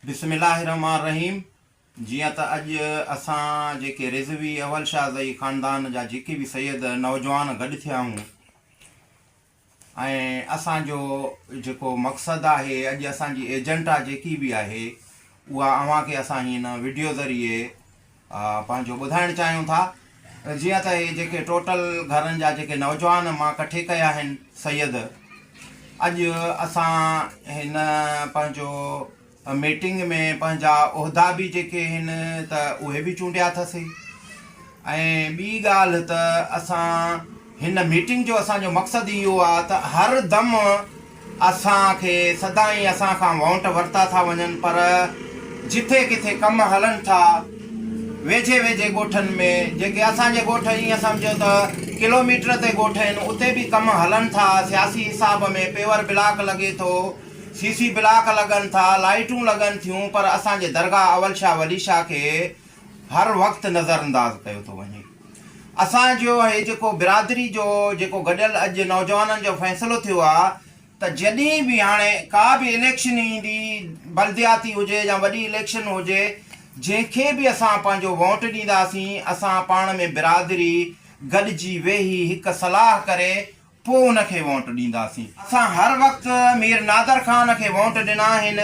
بسم الله الرحمٰن الرحيم جيئن ته اڄ اسان جيڪي رضوي اول شاهه زئي خاندان جا جيڪي به سيد نوجوان گڏ ٿيا آهيون ۽ اسان جو جيڪو مقصد آهي اڄ اسان جي ايجنٽا جيڪي به آهي اها اوهان کي اسان هن وڊيو ذريعي پنهنجو ٻڌائڻ چاهيون ٿا جيئن ته هي جيڪي ٽوٽل گهرن جا جيڪي نوجوان مان ڪٺي ڪيا آهن سيد اڄ اسان هن پنهنجو ميٽنگ ۾ پنهنجا عهدا به جيڪي آهن ته اهي به چونڊيا اٿاسي ۽ ٻي ڳالهه ته اسان هن ميٽنگ جو اسان جو مقصد ئي اهو آهي ته هر دم اسان کي سدائين اسان کان وونٽ ورتا ٿا وڃن پر جٿي ڪٿي ڪم هلن ٿا ويجهي ويجهي ڳوٺن ۾ جيڪي اسان جي ڳوٺ ايئن سمجهو ته ڪلوميٽر تي ڳوٺ آهن اتي به ڪم هلن ٿا سياسي حساب ۾ پيور بلاڪ لڳي ٿو سي سي بلاڪ لڳن ٿا لائيٽون لڳن ٿيون پر اسان جي درگاهه اول شاهه ولي شاهه کي هر وقت نظر انداز ڪيو ٿو وڃي اسان جو هي جيڪو برادري جو جيڪو گڏيل اڄ نوجوانن جو فيصلو ٿيو آ ته جڏهن به هاڻي ڪا به اليڪشن ايندي بلدياتي هجي يا وڏي اليڪشن هجي جنهن کي به اسان پنهنجو ووٽ ڏينداسين اسان پاڻ ۾ برادري گڏجي ويهي هڪ صلاح ڪري پوء ان کي ووٽ ڏينداسين. اسان هر وقت مير نادر خان کي ووٽ ڏنا آهن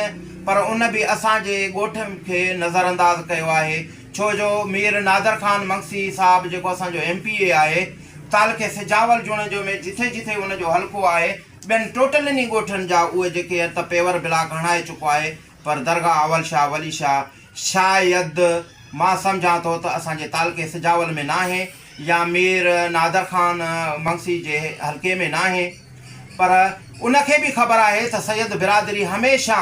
پر ان به اسان جي ڳوٺ کي نظرانداز ڪيو آهي ڇو جو مير نادر خان منگسي صاحب جيڪو اسان جو ايم پي اي آهي تعلقي سجاول جوڻيجو ۾ جٿي جٿي ان جو حلقو آهي ٻين ٽوٽلين ئي ڳوٺن جا اهي جيڪي هن ته پيور بلاڪ هڻائي چڪو آهي پر درگاهه اول شاهه ولي شاهه شايد مان سمجهان ٿو ته اسان جي تعلقي سجاول ۾ ناهي يا مير نادر خان منگسي جي حلقي ۾ ناهي پر ان کي به خبر آهي ته سيد برادري هميشه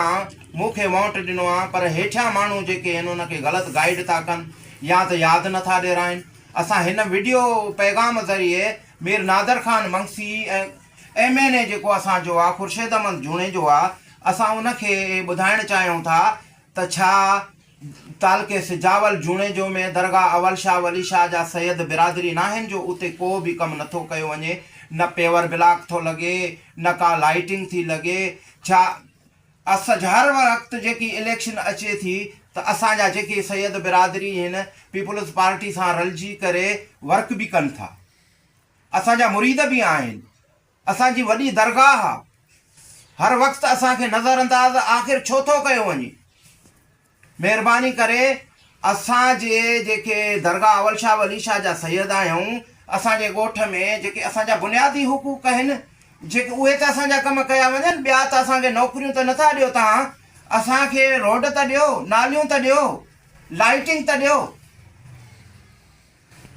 مون کي وونٽ ڏنو آهي پر هيٺيان ماڻهو جيڪي آهن ان کي غلط گائيڊ ٿا ڪن يا ته ياد نٿا ڏيرائين اسان هن وڊيو پيغام ذريعي Mir Nadir Khan Magsi ۽ M N A جيڪو اسان جو آ خورشيد احمد جوڻيجو آ اسان ان کي اھي ٻڌائڻ چاھيون ٿا ته ڇا تعلقي سجاول جوڻيجو ۾ درگاھ اول شاھ ولي شاھ جا سيد برادري ناھن جو اتي ڪو به ڪم نٿو ڪيو وڃي نه پيور بلاڪ ٿو لڳي نه ڪا لائيٽنگ ٿي لڳي ڇا اسج ھر وقت جيڪي اليڪشن اچي ٿي ته اسان جا جيڪي سيد برادري ھن پيپلز پارٽي سان رلجي ڪري ورڪ به ڪن ٿا. اسان جا مريد به آهن. اسان جي وڏي درگاهه آ. هر وقت اسان کي نظر انداز آخر ڇو ٿو ڪيو وڃي. مهرباني ڪري اسان جي جيڪي درگاهه اول شاهه ولي شاهه جا سيد آهيون، اسان جي ڳوٺ ۾ جيڪي اسان جا بنيادي حقوق آهن، جيڪي اهي ته اسان جا ڪم ڪيا وڃن، ٻيا ته اسان کي نوڪريون ته نه ٿا ڏيو توهان، اسان کي روڊ ته ڏيو، ناليون ته ڏيو، لائيٽنگ ته ڏيو.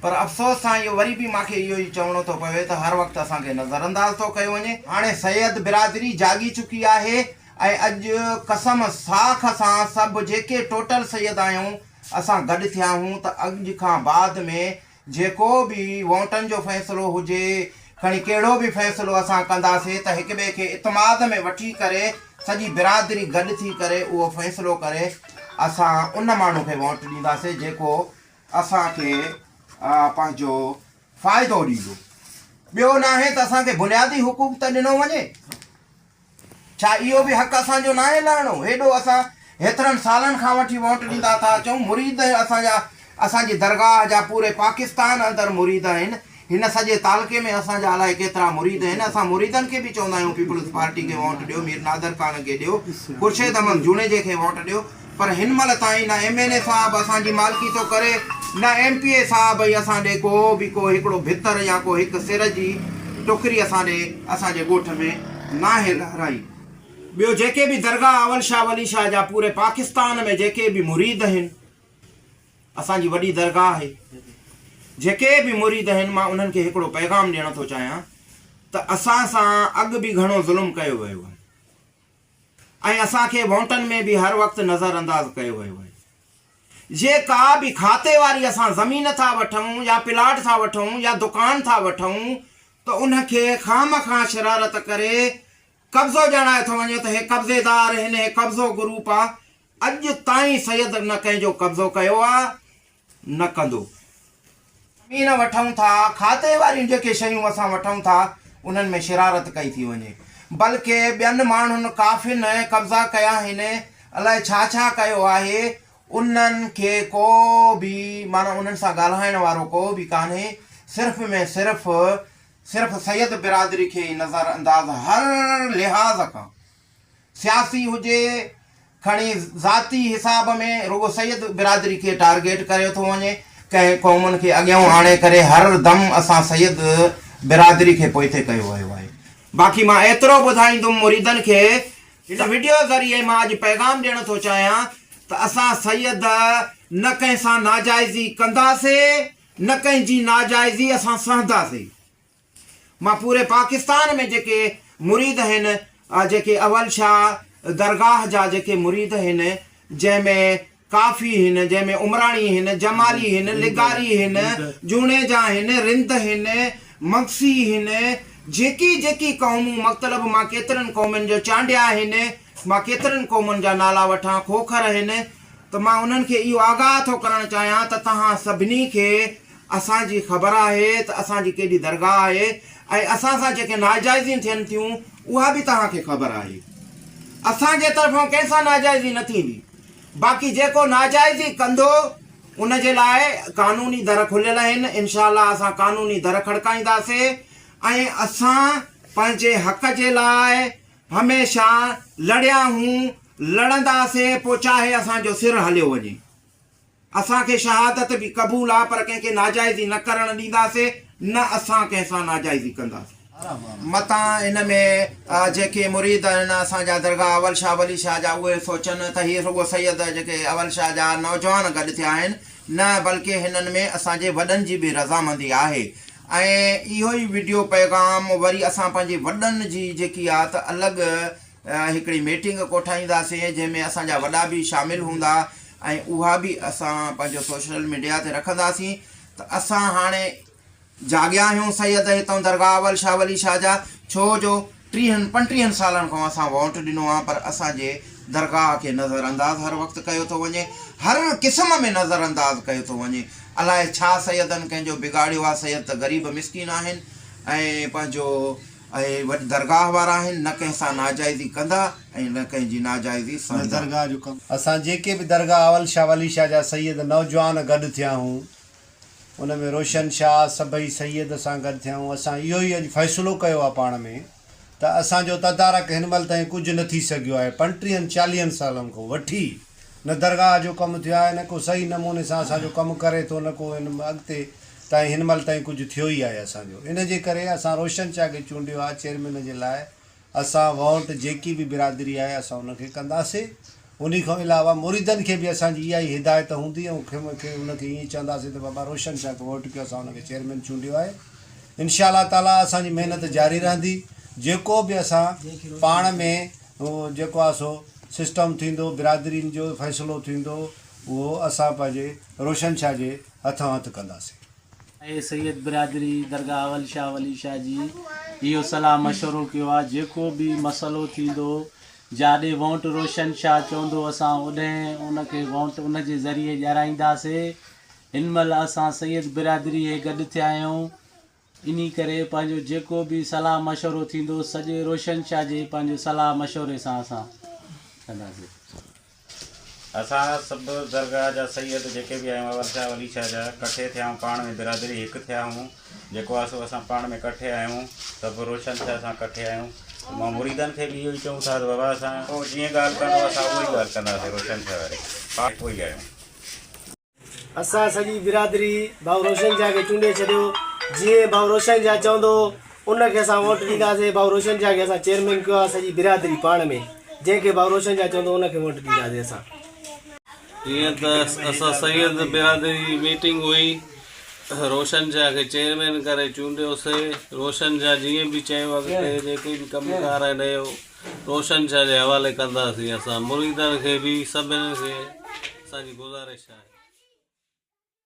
پر افسوس سان اهو وري به مانکي اهو ئي چوڻو ٿو پوي ته هر وقت اسان کي نظرانداز ٿو ڪيو وڃي. هاڻي سيد برادري جاڳي چڪي آهي ۽ اڄ قسم صاخ اسان سڀ جيڪي ٽوٽل سيد آهيون اسان گڏ ٿيا آهون ته اڄ کان بعد ۾ جيڪو به وونٽن جو فيصلو هجي کڻي ڪهڙو به فيصلو اسان ڪنداسي ته هڪ ٻئي کي اتماد ۾ وٺي ڪري سڄي برادري گڏ ٿي ڪري اهو فيصلو ڪري اسان ان ماڻهو کي وونٽ ڏينداسي جيڪو اسان کي پنهنجو فائدو ڏيندو. ٻيو ناهي ته اسان کي بنيادي حقوق ته ڏنو وڃي. ڇا اهو به حق اسان جو ناهي لهڻو؟ هيڏو اسان هيترن سالن کان وٺي ووٽ ڏيندا ٿا اچون. مريد اسان جا اسان جي درگاهه جا پوري پاڪستان اندر مريد آهن. هن سڄي تعلقي ۾ اسان جا الائي ڪيترا مريد آهن، اسان مريدن کي به چوندا آهيون پيپلز پارٽي کي ووٽ ڏيو، مير نادر خان کي ڏيو، خورشيد احمد جوڻيجي کي ووٽ ڏيو، پر هن مهل تائين نه ايم اين اي صاحب اسان جي مالڪي ٿو ڪري نه ايم پي اي صاحب ۽ اسان ڏي ڪو به ڪو هڪڙو ڀتر يا ڪو هڪ سر جي ٽڪري اسان ڏي اسان جي ڳوٺ ۾ ناهي لهرائي. ٻيو جيڪي به درگاهه اول شاهه ولي شاهه جا پوري پاڪستان ۾ جيڪي به مريد آهن. اسان جي وڏي درگاهه آهي. جيڪي به مريد آهن مان انهن کي هڪڙو پيغام ڏيڻ ٿو چاهيان ته اسان سان اڳ به گهڻو ظلم ڪيو ويو آهي ۽ اسان کي وونٽن ۾ به هر وقت نظر انداز ڪيو ويو آهي. جي ڪا به کاتي واري اسان زمين ٿا وٺون يا پلاٽ ٿا وٺون يا دڪان ٿا وٺون ته ان کي خامخواه شرارت ڪري قبضو ڄاڻايو ٿو وڃي ته هي قبضيدار هن هي قبضو گروپ آ اڄ تائين سيد نه ڪنهن جو قبضو ڪيو آ نه ڪندو. زمين وٺون ٿا کاتي واريون جيڪي شيون اسان وٺون ٿا انهن ۾ شرارت ڪئي ٿي وڃي بلڪ ٻين ماڻهن ڪافين قبضا ڪيا آهن الائي ڇا ڇا ڪيو آهي انهن کي ڪو به معنيٰ انهن سان ڳالهائڻ وارو ڪو به ڪانهي صرف ۾ صرف صرف سيد برادري کي ئي نظر انداز هر لحاظ کان سياسي هجي کڻي ذاتي حساب ۾ رڳو سيد برادري کي ٽارگيٽ ڪريو ٿو وڃي ڪنهن قومن کي اڳيئون آڻي ڪري هر دم اسان سيد برادري کي پوئتي ڪيو ويو آهي باقي مان ايترو ٻڌائيندم مريدن کي هن وڊيو ذريعي مان اڄ پيغام ڏيڻ ٿو چاهيان ته اسان سيد نه ڪنهن سان ناجائزي ڪنداسي نه ڪنهن جي ناجائزي اسان سهنداسي. مان پوري پاڪستان ۾ جيڪي مريد هن جيڪي اول شاهه درگاهه جا جيڪي مريد هن جنهن ۾ ڪافي هن جنهن ۾ عمراڻي هن جمالي هن لغاري هن جوڻيجا هن رند هن مگسي هن جيڪي جيڪي قومون مطلب مان ڪيترن قومن جو چانڊيا هن مان ڪيترن قومن جا نالا وٺان کوکر هن ته مان انهن کي اهو آگاهه ٿو ڪرڻ چاهيان ته توهان سڀني کي اسان جي خبر آهي ته اسان جي ڪيڏي درگاهه آهي ۽ اسان سان جيڪي ناجائزيون ٿين ٿيون اها به توهان کي خبر آهي. اسان جي طرفان ڪنهن سان ناجائزي نه ٿيندي. باقي جيڪو ناجائزي ڪندو ان جي لاء قانوني در کليل اهن. انشاء الله اسان قانوني در کڙڪائينداسي ۽ اسان پنهنجي حق جي لاء هميشه لڙيا هون، لڙنداسي پوء چاهي اسان جو سر هليو وڃي. اسان کي شهادت به قبول آ پر ڪنهن کي ناجائزي نه ڪرڻ ڏينداسين نه اسان ڪنهن سان ناجائزي ڪنداسين. متان ان ۾ جيڪي مريد آهن اسان جا درگاهه اول شاهه ولي شاهه جا اهي سوچن ته هي رڳو سيد جيڪي اول شاهه جا نوجوان گڏ ٿيا آهن نه بلڪه هنن ۾ اسان جي وڏن جي به رضامندي آهي ۽ اهو ئي وڊيو پيغام وري اسان پنهنجي وڏن جي جيڪي آ ته الڳ هڪڙي ميٽنگ ڪوٺائينداسين جنهن ۾ اسان جا وڏا به شامل هوندا ۽ اها به اسان پنهنجو سوشل ميڊيا تي رکنداسين ته اسان هاڻي جاڳيا آهيون سيد هتئون درگاهه اول شاهه ولي شاهه جا ڇو جو ٽيهن پنٽيهن سالن کان اسان ووٽ ڏنو آهي پر اسان جي درگاهه کي نظر انداز هر وقت ڪيو ٿو وڃي هر قسم ۾ نظر انداز ڪيو ٿو وڃي الائي ڇا سيدن ڪنهن جو بگاڙيو آهي سيد ته غريب مسڪين آهن ۽ پنهنجو اهي وڏ درگاهه وارا آهن، نه ڪنهن سان ناجائزي ڪندا ۽ نه ڪنهن جي ناجائزي سهندا. اسان جيڪي به درگاهه اول شاهه ولي شاهه جا سيد نوجوان گڏ ٿيا هون، ان ۾ روشن شاهه سڀئي سيد سان گڏ ٿيا هون، اسان اهو ئي اڄ فيصلو ڪيو آهي پاڻ ۾ ته اسان جو تدارڪ هن مهل تائين ڪجهه نه ٿي سگهيو آهي، پنٽيهن چاليهن سالن کان وٺي، نه درگاهه جو ڪم ٿيو آهي نه ڪو صحيح نموني سان اسان جو ڪم ڪري ٿو نه ڪو هن اڳتي تائين هن مهل تائين ڪجهه ٿيو ئي آهي اسان جو ان جي ڪري اسان روشن شاهه کي چونڊيو آهي چيئرمين جي لاء اسان ووٽ جيڪي به برادري آهي اسان ان کي ڪنداسين انهي کان علاوه مريدن کي به اسان جي اها ئي هدايت هوندي ۽ کين کي ان کي ائين چونداسين ته بابا روشن شاهه کي ووٽ ڪيو اسان ان کي چيئرمين چونڊيو آهي انشاء الله تعالي اسان جي محنت جاري رهندي جيڪو به اسان پاڻ ۾ جيڪو آهي سو سسٽم ٿيندو، برادرين جو فيصلو ٿيندو، اهو اسان پنهنجي روشن شاهه جي هٿان هٿ ڪنداسين. اي سيد برادري درگاهه اول شاهه ولي شاهه جي اهو صلاح مشورو ڪيو آ، جيڪو به مسئلو ٿيندو، جاڏي وونٽ روشن شاهه چوندو اسان اوڏهين ان کي وونٽ ان جي ذريعي ڄرائينداسين. هن مهل اسان سيد برادري هي گڏ ٿيا آهيون. انهي ڪري پنهنجو جيڪو به صلاح مشورو ٿيندو سڄي روشن شاهه جي پنهنجي صلاح مشوري سان اسان ڪنداسين. اسان سڀ درگاهه جا سيد جيڪي به آهيون اول شاهه ولي شاهه جا ڪٺي ٿيا آهيون پاڻ ۾ برادري هڪ ٿيا آهيون جيڪو آهي سو اسان پاڻ ۾ ڪٺي آهيون سڀ روشن شاهه سان ڪٺي آهيون مان مريدن کي به اهو ئي چئون ٿا ته بابا اسان جيئن ڳالهه ڪندو اسان اهو ئي ڳالهه ڪنداسين روشن شاهه واري پاڻ هڪ ئي آهيون. اسان سڄي برادري ڀائو روشن شاهه کي چونڊي ڇڏيو جيئن ڀائو روشن شاهه چوندو ان کي اسان ووٽ ڏينداسين ڀائو روشن شاهه کي اسان چيئرمين ڪيو آهي سڄي برادري پاڻ ۾ جنهن کي ڀائو روشن شاهه چوندو ان کي ووٽ ڏينداسين اسان جيئن ته اسان سيد برادري جي ميٽنگ هئي روشن شاهه کي چيئرمين ڪري چونڊيوسي روشن شاهه جيئن به چيو اڳتي جيڪي به ڪم ڪار آهن روشن شاهه جي حوالي ڪنداسين اسان مريدن کي به سڀني کي اسان جي گذارش آهي.